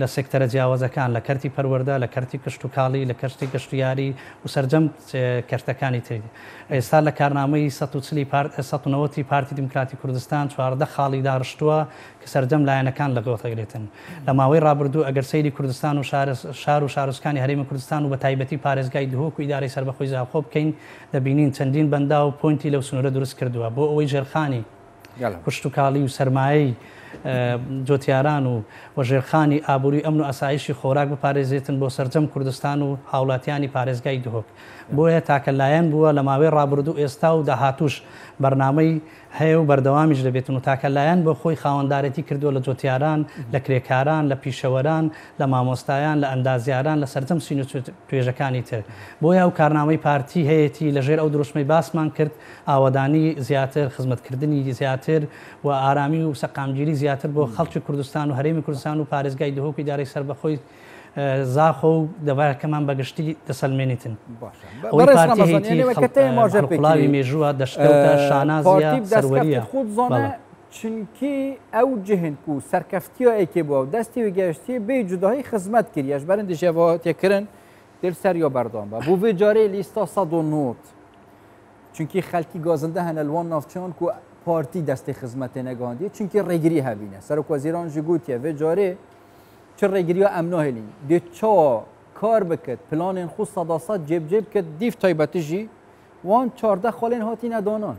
لە سێکتەرە جیاوازەکان، لە کەرتی پەروەردە، لە کەرتی کشتوکاڵی، لە کەرتی گەشتیاری و سەرجەم کەرتەکانی تر. ئێستا لە کارنامەی سەد و چل ی سەد و نەوەد ی پارتی دیموکراتی کوردستان چواردە خاڵی داڕشتووە کە سەرجەم لایەنەکان لەگەڵتەگرێتن. لە ماوەی ڕابردوو ئەگەر سەیری کوردستان و شار و شارۆچکانی هەرێمی کوردستان و بە تایبەتی پارێزگای دهۆک و ئیدارەی سەربەخۆی زاخۆ بکەین دەبینین چەندین بەنداو و پۆینتی لەو سنوورە دروست کردووە بۆ ئەوەی ژێرخانی کشتوکاڵی و سەرمایەی جۆتیاران و و ژێرخانی ئابووری ئەمن و ئاسایشی خۆراک بپارێزێتن بۆ سەرجەم کوردستان و هاوڵاتیانی پارێزگای دهۆک بۆیە تاکە لایەن بووە لە ماوەی ڕابردوو ئێستا و داهاتووش بەرنامەی هەیە و بەردەوامیش دەبێتن و تاکە لایەن بۆ خۆی خاوەندارێتی کردووە لە جۆتیاران لە کرێکاران لە پیشەوەران لە مامۆستایان لە ئەندازیاران لە سەرجەم سینوتوێژەکانی تر بۆیە ئەو کارنامەی پارتی هەیەتی لە ژێر ئەو دروشمەی باسمان کرد ئاوەدانی زیاتر، خزمەتکردنی زیاتر و ئارامی و سەقامگیری زیاتر بۆ خەڵکی کوردستان و هەرێمی کوردستان و پارێزگای دهۆک و ئیدارەی سەربەخۆی زاخۆ و دەڤەرەکەمان بە گشتی دەسەلمێنیتن. ئەوەی پارتی هەیتی هەڵقوڵاوی مێژووە، دەشکەوتە، شانازییە، سەروەرییە. چونکی ئەو جهنک و سەرکەفتییە ئەیکێ بووە و دەستی و گەشتی بێ جودهی خزمەت کرد یش بەرن دژێ بۆ تێکردن دل سەریۆ بەردۆم بە بووێ جارەی لیستە سەد و نۆت چونکی خەلکی گەزندە هەنە لوان ناوچەیان کو پارتی دەستی خزمەتێ نەگەاندیە چونکی ڕێگری هەبینە سەرۆک وەزیران ژی گوتیە vê جارێ چ ڕێگریا ئەم ناهێلین دێ چاوا کار بکرد پلانێن خو سەدا سەد جێبجێ بکرد دیف تایبەتی ژی وان چاردە خولێن هاتینە دانان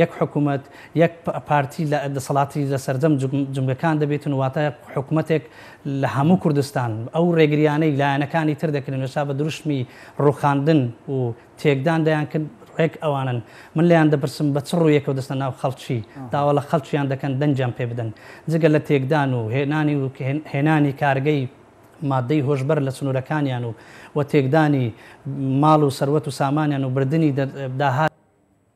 یەک حکومەت، یەک پارتی لە دەسەڵاتی لە سەرجەم جومگەکان دەبێتن و واتە حکومەتێک لە هەموو کوردستان. ئەو رێگریانەی لایەنەکانی تر دەکردن وێستا بە دروشمی روخاندن و تێکدان دەیانکرد رێک ئەوانن. من لێیان دەپرسم بە چ روویەکەوە دەچنە ناو خەڵکی داوە لە خەڵکیان دەکەن دەنگیان پێ بدەن؟ جگە لە تێکدان و هێنانی و هێنانی کارگەی مادەی هۆشبەر لە سنوورەکانیان و و تێکدانی ماڵ و سەروەت و سامانیان و بردنی داهاتی.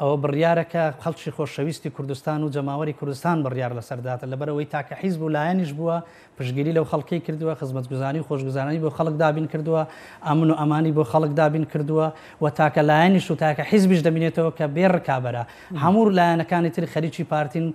ئەوە بڕیارە کە خەڵکی خۆشەویستی کوردستان و جەماوەری کوردستان بڕیار لەسەر دادەن، لەبەرئەوەی تاکە حیزب و لایەنیش بووە پشتگیری لەو خەڵکەی کردووە، خزمەتگوزاری و خۆشگوزەرانی بۆ خەڵک دابین کردووە، ئەمن و ئەمانی بۆ خەڵک دابین کردووە و تاکە لایەنیش و تاکە حیزبیش دەبینێتەوە کە بێ رکابەرە، هەموو لایەنەکانی تر خەریکی پارتین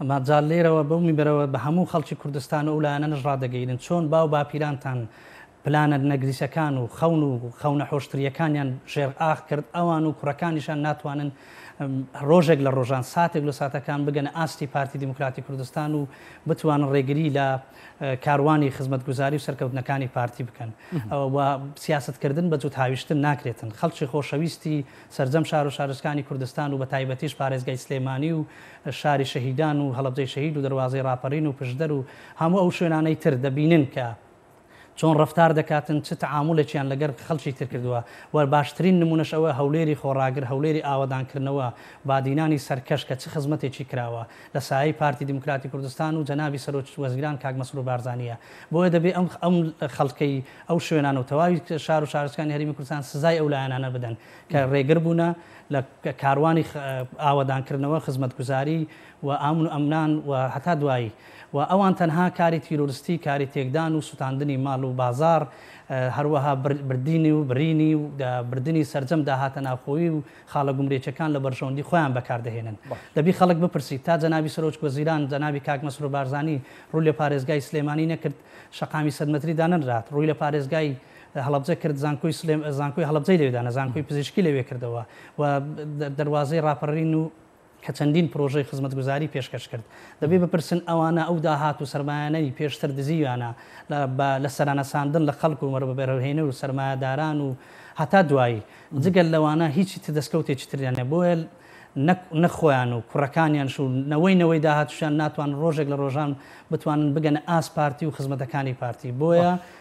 ئەما جا لێرەوە بەو میبەرەوە بە هەموو خەڵکی کوردستان و ئەو لایەنەنەش ڕادەگەینن چۆن باو باپیرانتان پلانە نەگریسەکان و خەون و خەونە حۆشترییەکانیان ژێر ئاخ کرد ئەوان و کوڕەکانیشان ناتوانن ڕۆژێک لە ڕۆژان ساتێک لە ساتەکان بگەنە ئاستی پارتی دیموکراتی کوردستان و بتوانن ڕێگری لە کاروانی خزمەتگوزاری و سەرکەوتنەکانی پارتی بکەن و سیاستکردن بە جوت هاویشتن ناکرێتن خەڵکی خۆشەویستی سەرجەم شار و شارۆچکانی کوردستان و بەتایبەتیش پارێزگای سلێمانی و شاری شەهیدان و هەڵەبجەی شەهید و دەروازەی ڕاپەڕین و پشدەر و هەموو ئەو شوێنانەی تر دەبینن کە چۆن ڕەفتار دەکاتن چ تەعامولێکیان لەگەر خەڵکی تر کردووە و باشترین نموونەش ئەوە هەولێری خۆڕاگر هەولێری ئاوەدانکردنەوە بادینانی سەرکەش کە چ خزمەتێکی کراوە لە سایەی پارتی دیموکراتی کوردستان و جەنابی سەرۆکی وەزیران کاک مەسرور بارزانییە. بۆیە دەبێ ئەم ئەم خەڵکەی ئەو شوێنانە و تەواوی شار و شارۆچکانی هەرێمی کوردستان سزای ئەو لایەنانە بدەن کە رێگر بوونە لە کاروانی ئاوەدانکردنەوە، خزمەتگوزاری و ئامن و ئەمنان و هەتا دوایی و ئەوان تەنها کاری تیرۆرستی، کاری تێکدان و سوتاندنی ماڵ و بازاڕ، هەروەها بردینی و برینی و بردنی سەرجەم داهاتە ناوخۆیی و خاڵە گومرێکیەکان لە بەرژەوەندی خۆیان بەکار دەهێنن دەبی خەڵک بپرسیت تا جەنابی سەرۆچک وەزیران جەنابی کاک مەسرور بارزانی ڕوی لە پارێزگای سلێمانی نەکرد شەقامی سەد مەتری دانەنرات ڕوی لە پارێزگای هەڵەبجە کرد زانکۆی سلێم زانکۆی هەڵەبجەی لەوێ دانا زانکۆی پزیشکی لەوێ کردەوە و دەروازەی ڕاپەڕین و کە چەندین پرۆژەی خزمەتگوزاری پێشکەش کرد. دەبێ بپرسن ئەوانە ئەو داهات و سەرمایانەی پێشتر دزیویانە بە لە سەرانەساندن لە خەڵک و وەربەرهێنەر و سەرمایەداران و هەتا دوایی، جگە لەوانە هیچی تر دەستکەوتێکی تریان نیە. بۆیە نەک نەک خۆیان و کوڕەکانیانش و نەوەی نەوەی داهاتووشیان ناتوانن ڕۆژێک لە ڕۆژان بتوانن بگەنە ئاست پارتی و خزمەتەکانی پارتی. بۆیە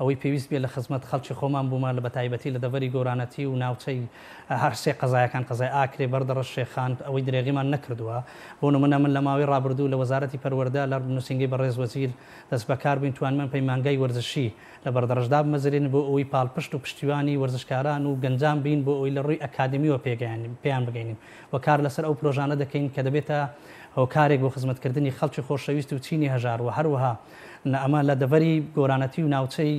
ئەوەی پێویست بێت لە خزمەت خەڵکی خۆمان بوومە لە بەتایبەتی لە دەڤەری گۆرانەتی و ناوچەی هەر سێ قەزایەکان قەزای ئاکرێ، بەردەڕەش، شێخان ئەوەی درێغیمان نەکردووە. بۆ نموونە من لە ماوەی ڕابردوو لە وەزارەتی پەروەردە لە نووسینگەی بەڕێز وەزیر دەستبەکار بووین توانیمان پەیمانگای وەرزشی لە بەردەڕەش دابمەزرێنین بۆ ئەوەی پاڵپشت و پشتیوانی وەرزشکاران و گەنجان بین بۆ ئەوەی لە ڕووی ئەکادمییەوە پێیان بگەینین و کار لەسەر ئەو پرۆژانە دەکەین کە دەبێتە هۆکارێک بۆ خزمەتکردنی خەڵکی خۆشەویست و چینی هەژار و هەروەها نە ئەمە لە دەڤەری گۆرانەتی و ناوچەی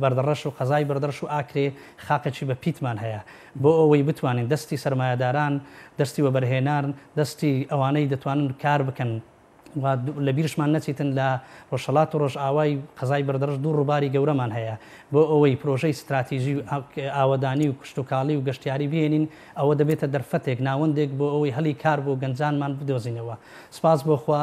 بەردەڕەش و قەزای بەردەڕش و ئاکرێ خاقێکی بە پیتمان هەیە بۆ ئەوەی بتوانین دەستی سەرمایەداران، دەستی وەبەرهێنان، دەستی ئەوانەی دەتوانن کار بکەن و لە بیرشمان نەچیتن لە ڕۆژهەڵات و ڕۆژئاوای قەزای بەردەڕەش دوو ڕووباری گەورەمان هەیە بۆ ئەوەی پرۆژەی ستراتیژی ئاوەدانی و کشتوکاڵی و گەشتیاری بهێنین ئەوە دەبێتە دەرفەتێک، ناوەندێک بۆ ئەوەی هەلی کار بۆ گەنجانمان بدۆزینەوە. سپاس بۆ خوا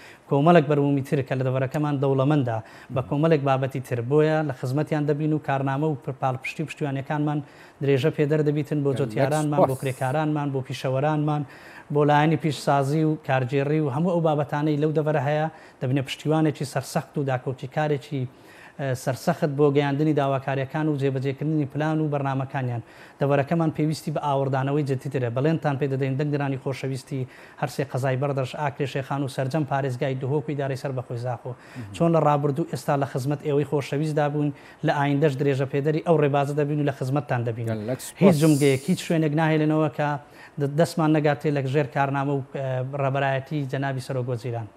کۆمەڵێک بەروومی تر کە لە دەڤەرەکەمان دەوڵەمەندە بە کۆمەڵێک بابەتی تر، بۆیە لە خزمەتیان دەبین و کارنامە و پاڵپشتی و پشتیوانیەکانمان درێژە پێدەر دەبیتن بۆ جۆتیارانمان، بۆ کرێکارانمان، بۆ پیشەوەرانمان، بۆ لایەنی پیشسازی و کارگێڕی و هەموو ئەو بابەتانەی لەو دەڤەرە هەیە، دەبینە پشتیوانێکی سەرسەخت و داکۆکیکارێکی. سەرسەخت بۆ گەیاندنی داواکاریەکان و جێبەجێکردنی پلان و بەرنامەکانیان. دەڤەرەکەمان پێویستی بە ئاوڕدانەوەی جددیترە. بەڵێنتان پێدەدەین دەنگدرانی خۆشەویستی هەر سێ قەزای بەردەرش، ئاکرێ، شێخان و سەرجەم پارێزگای دهۆک و ئیدارەی سەربەخۆی زاخۆ چۆن لە ڕابردوو ئێستا لە خزمەت ئێوەی خۆشەویستدا بووین لە ئایندەش درێژەپێدەری ئەو ڕێبازە دەبین و لە خزمەتتان دەبین. هیچ جومگەیەک، هیچ شوێنێک ناهێلێنەوە کە دەستمان نەگاتێ لە ژێر کارنامە و ڕێبەرایەتی جەنابی سەرۆک وەزیران.